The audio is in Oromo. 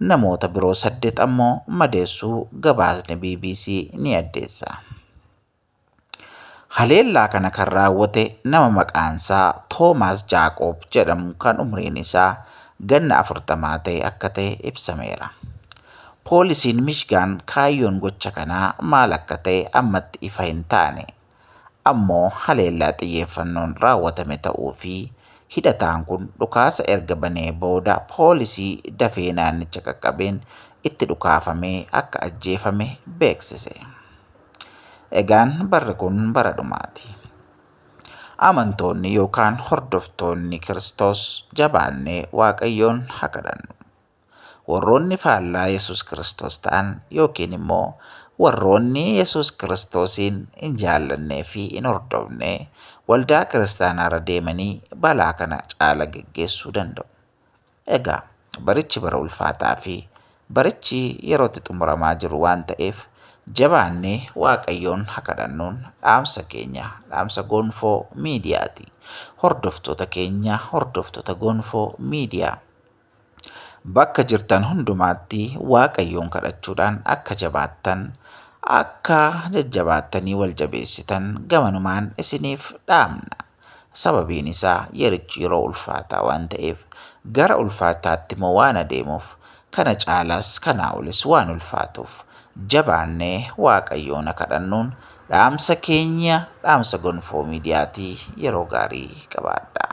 Namoota biroo saddeet ammoo madeessuu gabaasni bbc ni addeessa. Haleellaa kana kan raawwate nama maqaansaa Toomaas Jaaqoob jedhamu kan umriin isaa ganna afurtamaa ta'e akka ta'e ibsameera. Poolisiin Mishgaan kaayyoon gocha kanaa maal akka ta'e ammatti ifa hin taane ammoo haleellaa xiyyeeffannoon raawwatame ta'uu fi hidhataan kun dhukaasa erga banee booda poolisii dafee naannicha qaqqabeen itti dhukaafamee akka ajjeefame beeksise. Egaan barri kun bara dhumaati. Amantoonni yookaan hordoftoonni Kiristoos jabaannee Waaqayyoon haa kadhannu. Warroonni faallaa Yesuus Kiristoos ta'an yookiin immoo warroonni Yesuus Kiristoosiin hin jaallannee fi hin hordofne waldaa kiristaanaarra deemanii balaa kana caala geggeessuu danda'u. Egaa barichi bara ulfaataa fi barichi yerootti xumuramaa jiru waan ta'eef jabaannee Waaqayyoon haa kadhannuun dhaamsa keenya dhaamsa Gonfoo miidiyaati. Hordoftoota keenya hordoftoota Gonfoo miidiyaa. Bakka jirtan hundumaatti Waaqayyoon kadhachuudhaan akka jabaattan, akka jajjabaattanii wal jabeessitan gamanumaan isiniif dhaamna. Sababiin isaa yerichi yeroo ulfaataa waan ta'eef gara ulfaataatti immoo waan adeemuuf kana caalaas kanaa olis waan ulfaatuuf jabaannee Waaqayyoona kadhannuun dhaamsa keenya dhaamsa gonfoo miidiyaatii yeroo gaarii qabaadhaa.